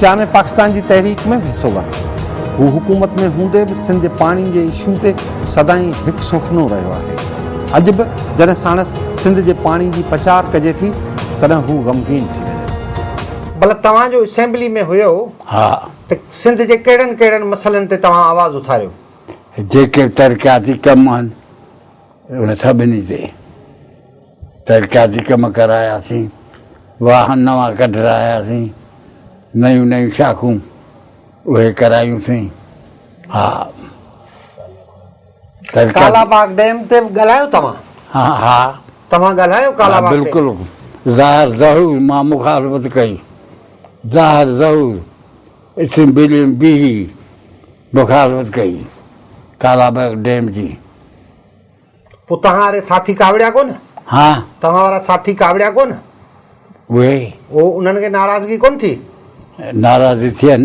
قيام پاڪستان جي تحريڪ ۾ به حصو ورتو. هو حڪومت ۾ هوندي به سنڌ جي پاڻي جي اشو تي سدائين هڪ سوڦنو رهيو آهي. اڄ به جڏهن ساڻس سنڌ جي پاڻي جي پچار ڪجي ٿي تڏهن هو غمگين ٿي وڃي ٿو. ڀلا توهان جو اسيمبلي ۾ هيو ته سنڌ جي ڪهڙن ڪهڙن مسئلن تي توهان آواز اٿاريو؟ جيڪي به ترقياتي ڪم آهن ان سڀني تي ترقياتي ڪم ڪراياسين، واهن نوان ڪڍراياسين، نيون نيون شاخون اهي ڪرايون سين. ها ترقياتي ڪالا باغ ڊيم تي به ڳالهايو توهان؟ ها ها توهان ڳالهايو ڪالا ها باغ ڊيم؟ بلڪل ظاهر ظهور مان مخالفت ڪئي ظاهر ظهور اسيمبلي ۾ بيهي مخالفت ڪئي ڪالا باغ ڊيم جي. پوء توهان واري ساٿي ڪاوڙيا ڪونه؟ ها. توهان وارا ساٿي ڪاوڙيا ڪونه؟ اهي. اهو انهن کي ناراضگي ڪونه ٿي؟ ناراض ٿين.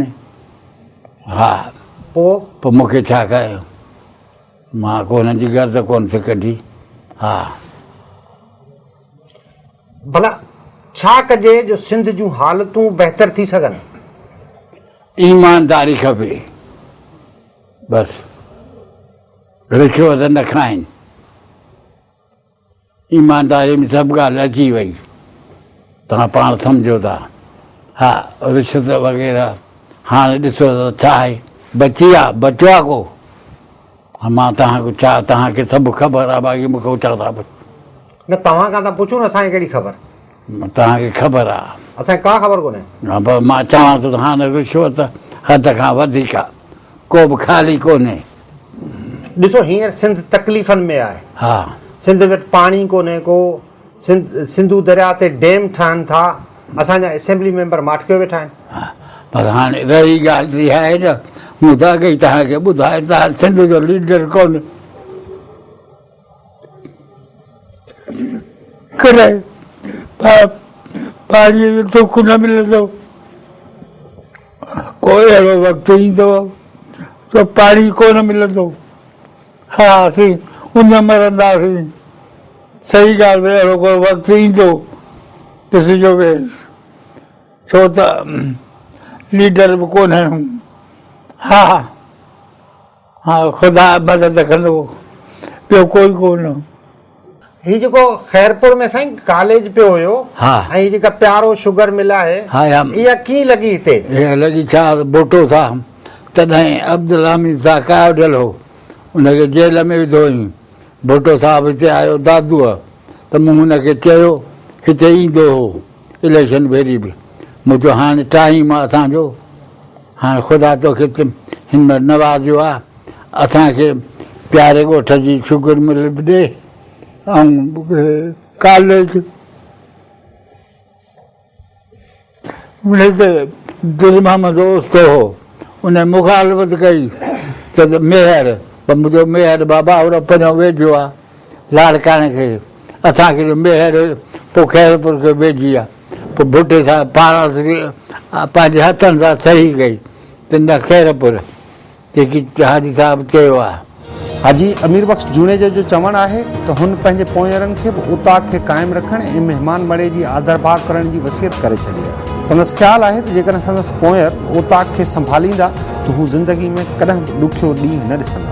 ها. پوء؟ پوء مون کي ڇا ڪيو؟ مان ڪو انهن جي گرد ڪونه ٿي ڪڍي. ها. ڀلا ڇا ڪجي جو سنڌ جون حالتون بهتر ٿي سگهن؟ ايمانداري کپي. بس. رشوت نه کائين. ايمانداري ۾ سڀ ڳالهه اچي وئي. توهان پاڻ سمجهو ٿا. ها رشوت وغيره هاڻي ڏسو ته ڇا آهي؟ بچي آ؟ بچو آ ڪو؟ مان توهان کي ڇا؟ توهان کي سڀ خبر آ باقي مون کي ڇا ٿا پڇو؟ نه توهان کان ٿا پڇون اسان کي ڪهڙي خبر؟ توهان کي خبر آ. اسان کي ڪا خبر ڪونهي. ها بس مان چوان ٿو ته هاڻ رشوت حد کان وڌيڪ آ. ڪو به خالي ڪونهي. ڏسو هينئر سنڌ تڪليفن ۾ آهي. ها. سنڌ وٽ پاڻي ڪونهي ڪو. سنڌ سنڌو درياء تي ڊيم ٺهن ٿا. اسان جا اسيمبلي ميمبر ماٺڪيو ويٺا آهن. ها پر هاڻي رهي ڳالهه ته اها آهي نه مون ته اڳ ئي توهان کي ٻڌايو ته هاڻ سنڌ جو ليڊر ڪونهي. ڪڏهن پاڻيء جو ٽوڪ نه ملندو، ڪو اهڙو وقت ايندو جو پاڻي ڪونه ملندو، ها اسين اڃ مرنداسين، صحيح ڳالهه ته اهڙو ڪو وقت ايندو، ڏسجو به ڇو ته ليڊر به ڪونه آهيون، ها. ها خدا مدد ڪندو ٻيو ڪوئي ڪونه. هي جيڪو خيرپور ۾ سائين ڪاليج پيو هيو ۽ هي جيڪا پيارو شگر مل آهي اها ڪيئن لڳي هتي؟ اها لڳي ڇا ته ڀٽو سا تڏهن عبدالحميد سا قائديل هو ان کي جيل ۾ وڌو هئين ڀٽو صاحب هتي آيو دادوء ته مون هن کي چيو هتي ايندو هو اليڪشن ڀيري به مون چيو هاڻي ٽائيم آهي اسان جو هاڻ خدا توکي تن هن مهل نوازيو آ اسان کي پياري ڳوٺ جي شگر مل به ڏي ۽ ڪاليج ان تي دل محمد اوستو هو ان مخالفت ڪئي ته ميهر منهنجو ميهر بابا اهڙو پريون ويجهو آ لاڙڪاڻي کي اسان کي جو ميهڙ پوء خيرپور کي ويجهي آ پوء ڀٽي صاحب پاڻس به پنهنجي هٿن سان صحيح ڪئي ته نه خيرپور جيڪي حاجي صاحب چيو آ. حاجي امير بخش جوڻيجو جو چوڻ آهي ته هن پنهنجي پونئيرن کي به اوطاق کي قائم رکڻ ۽ مهمان مڙهي جي آڌرڀاء ڪرڻ جي وصيت ڪري ڇڏي آ. سندس خيال آهي ته جيڪڏهن سندس پونئير اوطاق کي سنڀاليندا ته هو زندگي ۾ ڪڏهن به ڏکيو ڏينهن نه ڏسندا.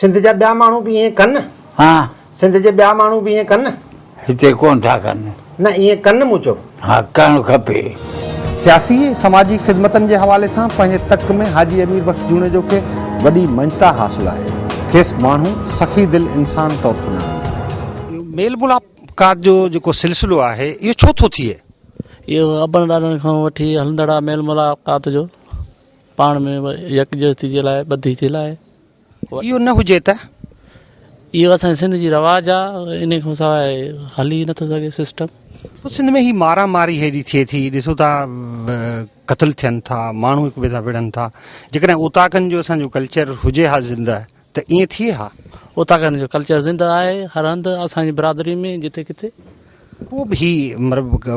سنڌ جا ٻيا ماڻهو به ائين ڪن؟ ها. سنڌ جي ٻيا ماڻهو به ائين ڪن؟ هتي ڪونه ٿا ڪن. نه ائين ڪن مون چيو. ها ڪرڻ کپي. سياسي ۽ سماجي خدمتن جي حوالي سان پنهنجي تڪ ۾ حاجي امير بخش جوڻيجو کي وڏي مڃتا حاصل آهي. کيس ماڻهو سخي دل انسان طور سڃاڻين ٿا. ميل ملاقات جو جيڪو سلسلو آهي اهو ڇو ٿو ٿئي؟ اهو ابن ڏاڏن کان وٺي هلندڙ آهي ميل ملاقات جو پاڻ ۾ يڪجهتي جي لاء ٻڌي جي لاء اهو نه هجي ته اهو اسان سنڌ جي رواج آ ان کان سواء هلي نه ٿو سگهي سسٽم سنڌ ۾ هي مارا ماري هيڏي ٿئي ٿي ڏسو ٿا قتل ٿين ٿا ماڻهو هڪ ٻئي سان وڙهن ٿا جيڪڏهن اوطاقن جو اسان جو ڪلچر هجي ها زنده ته ائين ٿئي ها. اتان کان هن جو ڪلچر زنده آهي هر هنڌ اسان جي برادري ۾ جتي ڪٿي. پوء به هي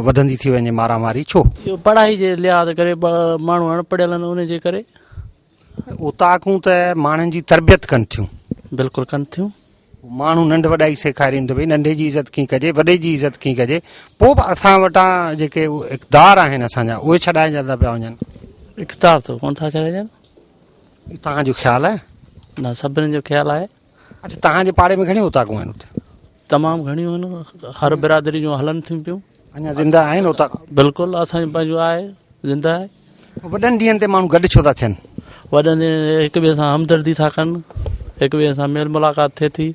وڌندي ٿي وڃي مارا ماري ڇو؟ اهو پڙهائي جي لحاظ ڪري ماڻهو اڻ پڙهيل آهن ان جي ڪري. اوطاقون ته ماڻهن جي تربيت ڪن ٿيون. بلڪل ڪن ٿيون. ماڻهو ننڍ وڏائي سيکارين ته ڀئي ننڍي جي عزت ڪيئن ڪجي وڏي جي عزت ڪيئن ڪجي پوء به اسان وٽان جيڪي اقدار آهن اسان جا اهي ڇڏائجندا پيا وڃن. اقدار ته ڪونه ٿا ڇڏائجن. هي توهان جو خيال آهي؟ نه سڀني جو خيال آهي. اچھا توهان جي پاڙي ۾ گھڻيون اوطاقون آهن اتي؟ تمام گھڻيون آهن هر برادري جون هلن ٿيون پيون. اڃا زنده آهن اوطاق؟ بلڪل اسان جو پنهنجو آهي زنده آهي. وڏن ڏينهن تي ماڻهو گڏ ڇو ٿا ٿين؟ وڏن ڏينهن هڪ ٻئي سان همدردي ٿا ڪن هڪ ٻئي سان ميل ملاقات ٿئي ٿي.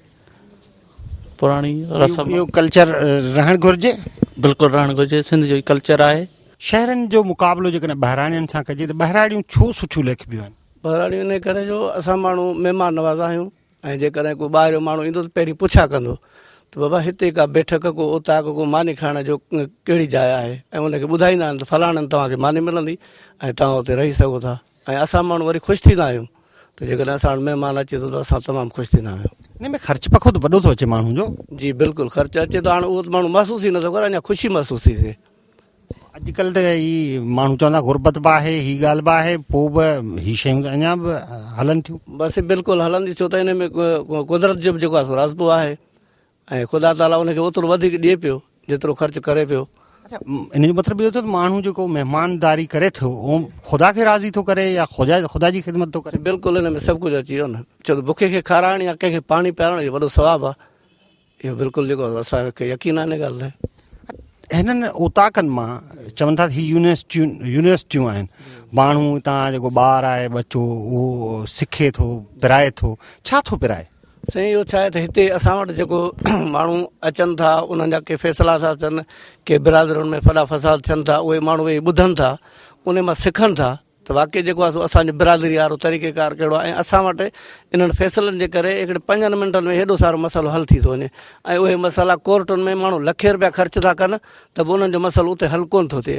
پراڻي رسم اهو ڪلچر رهڻ گهرجي بلڪل رهڻ گهرجي سنڌ جو ڪلچر آهي شهرن جو مقابلو جيڪڏهن ٻهراڙين سان ڪجي ته ٻهراڙيون ڇو سٺيون ليکبيون آهن ٻهراڙيون ان ڪري جو اسان ماڻهو مهمان نواز آهيون ۽ جيڪڏهن ڪو ٻاهريو ماڻهو ايندو ته پهرين پڇا ڪندو ته بابا هتي ڪا بيٺڪ ڪو اوطاق ڪو ماني کائڻ جو ڪهڙي جاء آهي ۽ ان کي ٻڌائيندا آهن ته فلاڻن توهان کي ماني ملندي ۽ توهان اتي رهي سگهو ٿا ۽ اسان ماڻهو وري خوش ٿيندا آهيون ته جيڪڏهن اسان وٽ مهمان اچي ٿو ته اسان تمام خوش ٿيندا آهيون. ان ۾ خرچ پکو ته وڏو ٿو اچي ماڻهو جو. جي بلڪل خرچ اچي ٿو هاڻ اهو ته ماڻهو محسوس ئي نٿو ڪري اڃا خوشي محسوس ٿي ٿئي. اڄ ڪلهه ته هي ماڻهو چون ٿا غربت به آهي هي ڳالهه به آهي پوء به هي شيون ته اڃا به هلن ٿيون. بس بلڪل هلندي ڇو ته ان ۾ قدرت جو به جيڪو آهي سو رازقو آهي ۽ خدا تعاليٰ ان کي اوترو وڌيڪ ڏئي پيو جيترو خرچ ڪري پيو. اچا ان جو مطلب اهو ٿيو ته ماڻهو جيڪو مهمانداري ڪري ٿو اهو خدا کي راضي ٿو ڪري يا خدا خدا جي خدمت ٿو ڪري. بلڪل ان ۾ سڀ ڪجهه اچي ويو نه ڇو ته بکي کي کارائڻ يا ڪنهن کي پاڻي پيارڻ اهو وڏو ثواب آهي اهو بلڪل جيڪو اسان کي يقين آهي ان ڳالهه تي. هنن اوطاقن مان چون ٿا هي يونيورسٽيون يونيورسٽيون آهن ماڻهو هتان جيڪو ٻار آهي ٻچو اهو سکي ٿو پرائي ٿو ڇا ٿو پرائي؟ سائين اهو ڇا آهي ته هتي اسان وٽ جيڪو ماڻهو اچن ٿا انهن جا ڪي فيصلا ٿا ٿين ڪي برادرين ۾ فڏا فساد ٿين ٿا اهي ماڻهو ويهي ٻڌن ٿا ان مان سکن ٿا ته واقعي جيڪو آهي سو اسانجي برادري وارو طريقي ڪار ڪهڙو آهي ۽ اسان وٽ انهن فيصلن جي ڪري هڪڙي پنجن منٽن ۾ هيڏو سارو مسئلو حل ٿي ٿو وڃي ۽ اهي مسئلا ڪورٽن ۾ ماڻهو لکين روپيا خرچ ٿا ڪن ته به انهن جو مسئلو اتي حل ڪونه ٿو ٿئي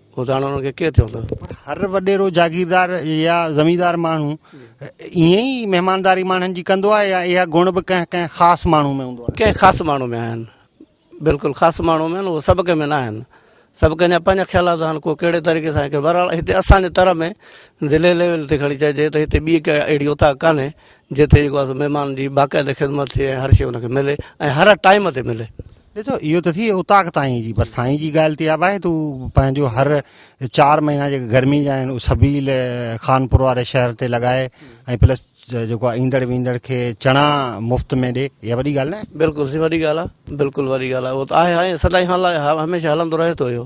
هو ڌاڻا انهن کي ڪير چوندا؟ پر هر وڏيرو جاگيردار يا زميندار ماڻهو ائين ئي مهمانداري ماڻهن جي ڪندو آهي يا اها گڻ به ڪنهن ڪنهن خاص ماڻهو ۾ هوندو آهي؟ ڪنهن خاص ماڻهو ۾ آهن. بلڪل خاص ماڻهو ۾ آهن اهي سڀ ڪنهن ۾ نه آهن. سڀ ڪنهن جا پنهنجا خيالات آهن ڪو ڪهڙي طريقي سان ڪري بهرحال هتي اسان جي تر ۾ ضلعي ليول تي کڻي چئجي ته هتي ٻي ڪا اهڙي اوطاق ڪانهي جتي جيڪو آهي سو مهمان جي باقاعده خدمت ٿئي ۽ هر شي ان کي ملي ۽ هر ٽائيم تي ملي. ڏسو اهو ته ٿي اتاق تائين جي پر سائين جي ڳالهه تي آ بھائي تون پنهنجو هر چار مهينا جيڪي گرمي جا آهن سبيل خانپور واري شهر تي لڳائي ۽ پلس جيڪو آهي ايندڙ ويندڙ کي چڻا مفت ۾ ڏي اها وڏي ڳالهه نه آهي بلڪل سي وڏي ڳالهه آ بلڪل وڏي ڳالهه آ اهو ته آهي آهي سدائين حال آهي هميشه هلندو رهي ٿو اهو